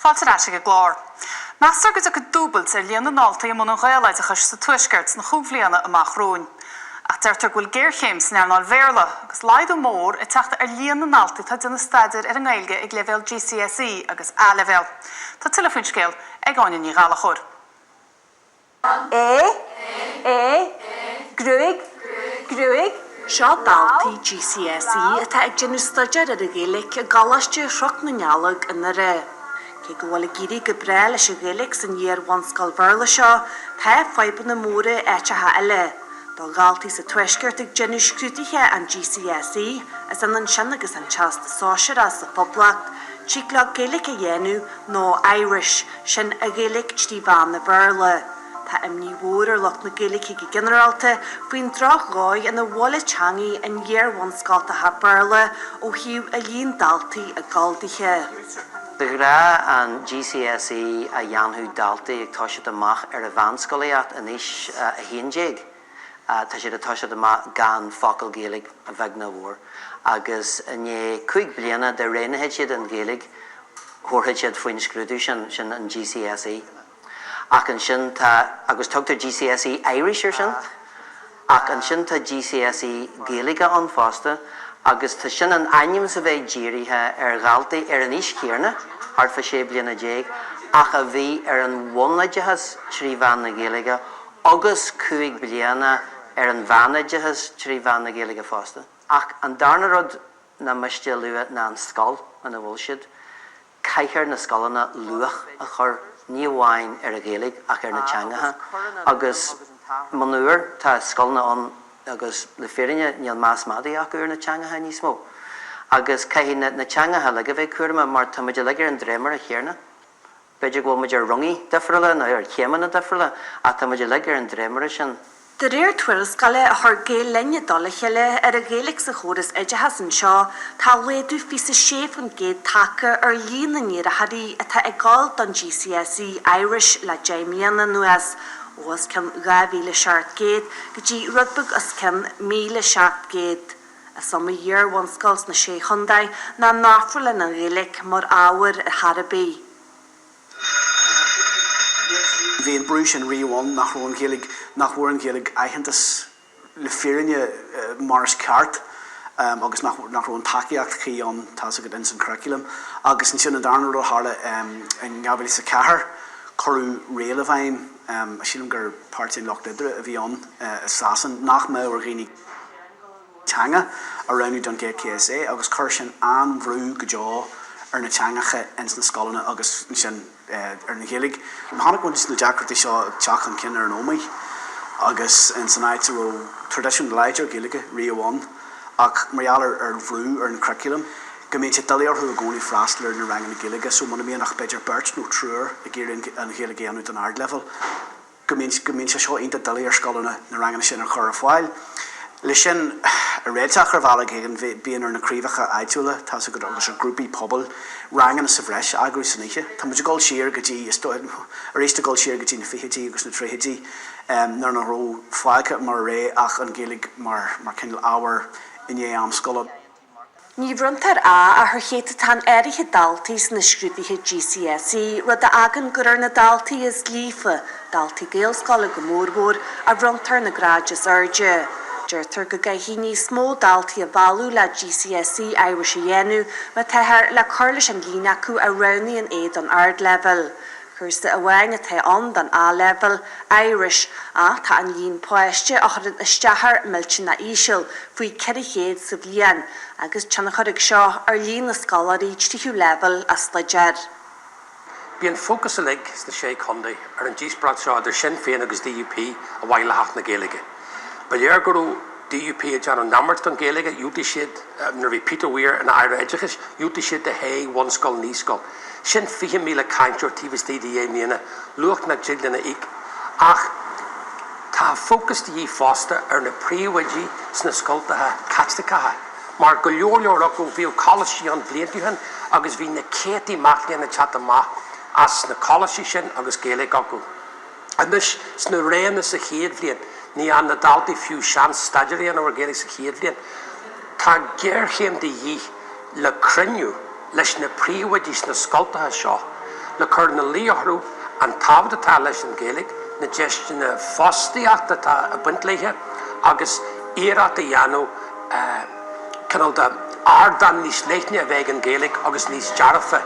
Fáilte ar ais chuig an gclár. Meastar go dtiocfaidh dúbailt ar líon na ndaltaí i mbun an Ghaeloideachais sa Tuaisceart sna cúig bliana amach romhainn. Ach deirtear go bhfuil géarchéim san earnáil Bhéarla, agus laghdú mór ag teacht ar líon na ndaltaí atá ag déanamh staidéir ar an nGaeilge ag leibhéal GCSE agus A-Leibhéal. Tá tuilleadh faoin scéal ag Áine Ní Ghallachóir. é, é, gruaig, gruaig. Seo daltaí GCSE atá ag déanamh staidéir ar an Ghaeilge i gColáiste Chnoc na nDealg i nDoire. Cé go bhfuil ag éirí go breá leis an Ghaeilge san iar-bhunscoil Bhéarla seo, tá fadhbanna móra in áiteacha eile. Do dhaltaí sa Tuaisceart ag déanamh scrúduithe an GCSE, is ionann sin agus an Teastas Sóisearach sa Phoblacht, tig leo Gaeilge a dhéanamh, nó Irish, sin an Ghaeilge trí mheán an Bhéarla. Tá imní mhór ar lucht na Gaeilge go ginearálta faoin drochdhóigh ina bhfuil an teangaidh in iar-bhunscoltacha Béarla ó thaobh an líon daltaí ag gabháil dithe. De ghnáth an GCSE, a dhéanfadh daltaí ag toiseacht amach ar an mheánscolaíocht in aois a haon déag, tosaíonn siad amach gan focal Gaeilge, a bheag nó a mhór, agus i ndiaidh cúig bliana dá ndéanfadh siad an Ghaeilge thabharfaidh siad faoin scrúdú sin, sin an GCSE. Ach ansin tá, agus tugtar GCSE Irish ar sin, ach ansin tá GCSE Gaeilge ann fosta agus tá, sin in ainm is a bheith dírithe ar dhaltaí ar an aois chéarna, thart fá sé bliana déag, ach a bhí ar an bhunoideachas trí mheán na Gaeilge agus cúig bliana ar an mheánoideachas trí mheán na Gaeilge fosta. Ach an darna rud nach miste a lua ná an scoil ina bhfuil siad. Caithfidh na scoileanna luach a chur, ní amháin ar an Ghaeilge ach ar na teangacha agus, monuar, tá scoileanna ann agus le fírinne níl meas madaidh acu ar na teangacha níos mó. Agus caithfidh na teangacha uilig a bheith cúramach mar tá muid uilig ar an dréimire chéarna. B'fhéidir go bhfuil muid ar rungaí difriúla nó ar chéimeanna difriúla, ach tá muid uilig ar an dréimire sin. De réir tuarascála a chuir Gael Linn i dtoll a chéile ar an Ghaeilge sa chóras oideachais anseo, tá laghdú 26% tagtha ar líon na n-iarrthóirí atá ag dul don GCSE Irish le deich mbliana anuas, ó os cionn 2,700 go dtí rud beag os cionn 1,700. Is iomaí iarbhunscoil sna Sé Chontae nach n-ofrálann an Ghaeilge mar ábhar ar chor ar bith. Bhí an brú sin riamh ann nach raibh an Ghaeilge, nach bhfuair an Ghaeilge aitheantas le fírinne mar is ceart agus nach raibh an tacaíocht chuí ann, tá's agat, ins an churaclam. Agus ansin an darna rud a tharla in 2004, cuireadh riail i bhfeidhm, sílim gur páirtí an Lucht Oibre a bhí ann i Sasain, nach mbeadh ar dhaoine, teanga a roghnú don GCSE agus chuir sin an-bhrú go deo ar na teangacha ins na scoileanna agus ansin ar an Ghaeilge. Chonaic mise na deacrachtaí seo ag teacht chun cinn ar an Ómaigh agus ins an áit a raibh traidisiún láidir Gaeilge riamh ann ach mar gheall ar an bhrú ar an churaclam go mbíonn sé doiligh orthu i gcónaí freastal ar na ranganna Gaeilge so muna mbíonn ach b'fhéidir beirt nó triúr ag iarraidh an Ghaeilge a dhéanamh don ardleibhéal go mbíonn sé seo iontach doiligh ar scoileanna na ranganna sin a chur ar fáil. Leis sin a réiteach ar bhealach éigin, bíonn ar na craobhacha áitiúla, tá 's agat, agus ar ghrúpaí pobail, ranganna sa bhreis a eagrú san oíche. Tá muid ag dul siar go dtí, is dóigh, arís ag dul siar go dtí na fichidí agus na tríochaidí nuair nach raibh fágtha mar rogha ach an Ghaeilge mar cineál ábhar i ndiaidh am scoile. Ní bhronntar 'A' ach ar chéatadán áirithe daltaí sna scrúduithe GCSE, rud a fhágann gur ar na daltaí is líofa, daltaí Gaelscoile go mórmhór, a bhronntar na gráid is airde. Deirtear go gcaithfidh níos mó daltaí a mhealladh le GCSE Irish a dhéanamh má táthar le cur leis an líon acu a roghnaíonn é don ardleibhéal. Cúrsa amháin atá ann don A-Leibhéal, Irish, ach tá an líon páistí a chuireann isteach air millteanach íseal, faoi 400 sa bhliain, agus tionchar aige seo ar líon na scoláirí tríú leibhéal a stuidéar. Bhí an fócas uilig sna Sé Chontae ar an díospóireacht seo idir Sinn Féin agus DUP a bhain le hAcht na Gaeilge. Ba léir go raibh DUP ag déanamh neamairt den Ghaeilge, dhiúltaigh siad, nuair a bhí Peter Weir ina Aire Oideachais, dhiúltaigh siad do shé bhunscoil, naíscoil, Sin 20,000 cainteoir taobh istigh de dheich mbliana, luach nach dtig linn a íoc. Ach tá fócas de dhíth fosta ar na príomhoidí sna scoltacha Caitliceacha, mar go leor leor acu bhíodh coláistí ann blianta ó shin agus bhí na céadtaí mac léinn ag teacht amach as na coláistí sin agus Gaeilge acu. Anois, sna roghanna sa chéad bhliain, ní fhaigheann na daltaí fiú seans staidéar a dhéanamh ar Ghaeilge sa chéad bhliain. Tá géarchéim de dhíth le cruinniú leis na príomhoidí sna scoltacha seo le cur ina luí orthu an tábhacht atá leis an Ghaeilge, na deiseanna fostaíochta atá ag baint léithe agus iarracht a dhéanamh cineál de ardán níos leithne a bheith ag an Ghaeilge agus níos dearfa.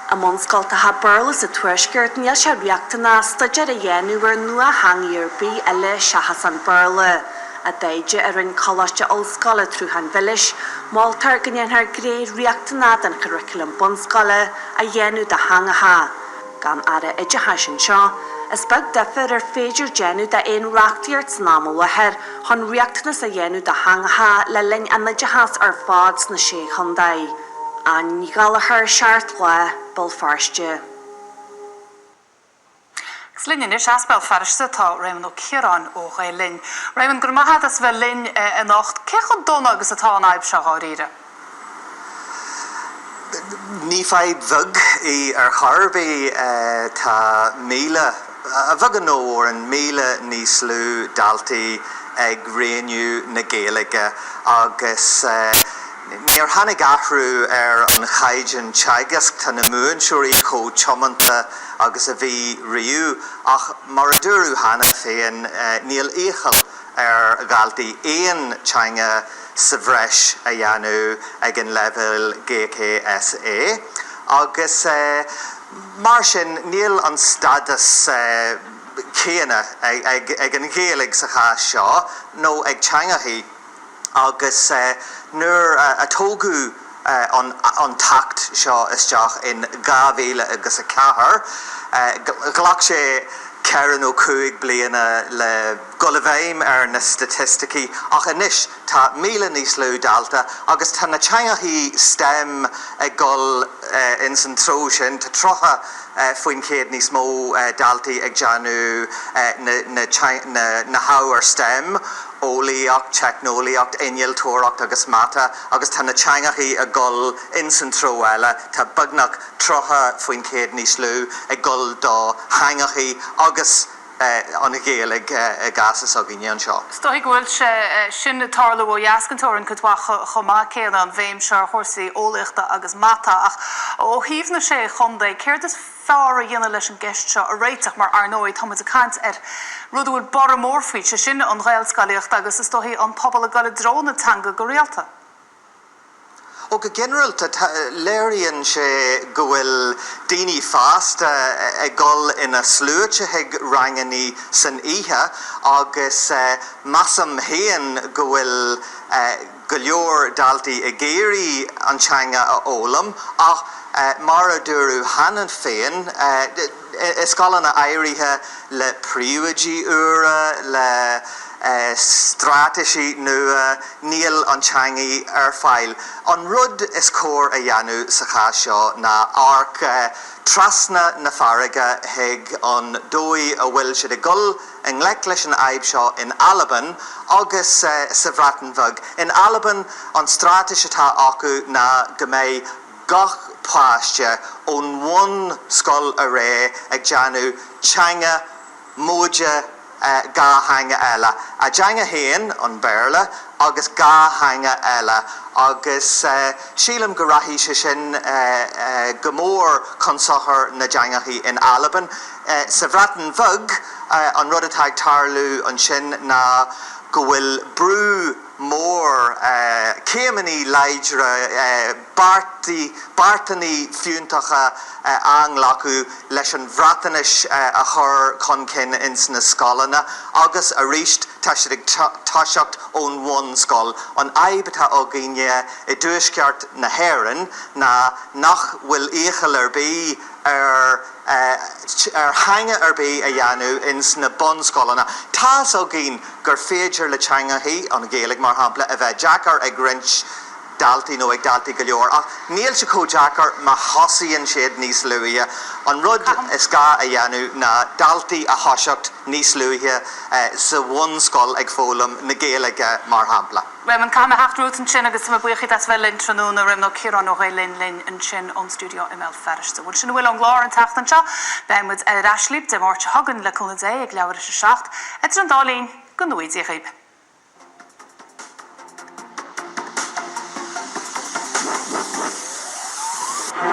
I mbunscoltacha Béarla sa Tuaisceart níl sé riachtanach staidéar a dhéanamh ar nuatheanga ar bith eile seachas an Béarla. I dtaighde a rinne Coláiste Ollscoile an tSrutháin Mhilis, moltar go ndéanfar gné riachtanach den churaclam bunscoile a dhéanamh de theangacha. Gan Aire Oideachais anseo, is beag difear ar féidir déanamh d'aon reachtaíocht san am i láthair chun riachtanas a dhéanamh de theangacha le linn an oideachais ar fad sna Sé Chontae. An Gallagher, Seacht Lá, Béal Feirste. Agus linn anois as Béal Feirste tá Réamonn Ó Ciaráin ó Ghael Linn. Réamonn, go raibh maith agat as a bheith linn anocht. Cé chomh dona agus atá an fhadhb seo dháiríre? Ní fadhb bheag í ar chor ar bith. Tá míle, a bheag nó a mhór, míle níos lú daltaí ag roghnú na Gaeilge agus, Níor tháinig athrú ar an chaighdeán teagaisc, tá na múinteoirí chomh tiomanta agus a bhí riamh, ach mar a dúradh cheana féin, níl iachall ar dhaltaí aon teanga sa bhreis a dhéanamh ag an leibhéal GCSE agus mar sin níl an stádas céanna ag an Ghaeilge sa chás seo nó ag teangacha agus nuair a tógadh an tAcht seo isteach in dhá mhíle agus a ceathair, ghlac sé ceithre nó cúig bliana le dul i bhfeidhm ar na staitisticí, ach anois tá míle níos lú dalta agus tá na teangacha STEM ag dul ins an treo sin, tá tríocha faoin chéad níos mó daltaí ag déanamh na hábhair STEM, eolaíocht, teicneolaíocht, innealtóireacht agus mata, agus tá na teangacha ag gol ins an treo eile, tá beagnach 30% níos lú ag gol do theangacha agus an Ghaeilge i gcás s'againne anseo. Is dóigh go bhfuil sé sin ag tarlú ó dheas den teorainn cuid mhaith chomh maith céanna, an bhéim seo ar chúrsaí eolaíochta agus mata. Ach ó thaobh na sé chontae, céard is. fearr a dhéanamh leis an gceist seo a réiteach mar, ar ndóigh, tá muid ag caint ar rud a bhfuil borradh mór faoi, sé sin, an Ghaelscolaíocht agus, is dóigh, an pobal ag dul i dtreo na teanga go rialta. Ó, go ginearalta, tá, léiríonn sé go bhfuil daoine fásta ag dul ina sluaite chuig rangannaí san oíche agus measaim féin go bhfuil, go leor daltaí ag iarraidh an teanga a fhoghlaim ach mar a dúradh cheana féin, i scoileanna áirithe, le príomhoidí úra, le straitéisí nua, níl an teangaidh ar fáil. An rud is cóir a dhéanamh sa chás seo ná amharc trasna na farraige chuig an dóigh a bhfuil siad ag dul, i ngleic leis an fhadhb seo in Albain agus sa Bhreatain Bheag. In Albain, an stráitéis atá acu ná go mbeidh gach páiste ón bhunscoil ar aghaidh ag déanamh teanga móide dhá theanga eile, a dteanga féin, an Béarla, agus dhá theanga eile, agus sílim go rachaidh sé sin go mór chun sochair na dteangachaí in Albain. Sa Bhreatain Bheag, an rud atá ag tarlú ansin ná go bhfuil brú mór, céimeanna láidre, beartanna fiúntacha á nglacadh leis an Bhreatnais a chur chun cinn ins na scoileanna agus arís tá siad ag toiseacht ón bhunscoil. An fhadhb atá againne i dtuaisceart na hÉireann ná nach bhfuil iachall ar bith, ar ar theanga ar bith a dhéanamh ins na bunscoileanna. Tá's againn gur féidir le teangachaí, an Ghaeilg, mar shampla, a bheith deacair ag roinnt daltaí nó ag daltaí go leor, ach níl sé chomh deacair má thosaíonn siad níos luaithe. An rud is gá a dhéanamh ná daltaí a thoiseacht níos luaithe sa bhunscoil ag foghlaim na Gaeilge, mar shampla. raibh an t-am ag teacht romhat ansin agus tá mé buíoch díot as bheith linn tráthnóna Réamonn Ó Ciaráin ó Ghael Linn linn ansin ón stiúideo i mBéal Feirste. Bhuel sin a bhfuil ón gclár an tseachtain seo. Beidh muid ar ais libh Dé Máirt seo chugainn le cúnamh Dé ag leathuair tar éis a seacht. Idir an dá linn, go ngnóthaí Dia daoibh.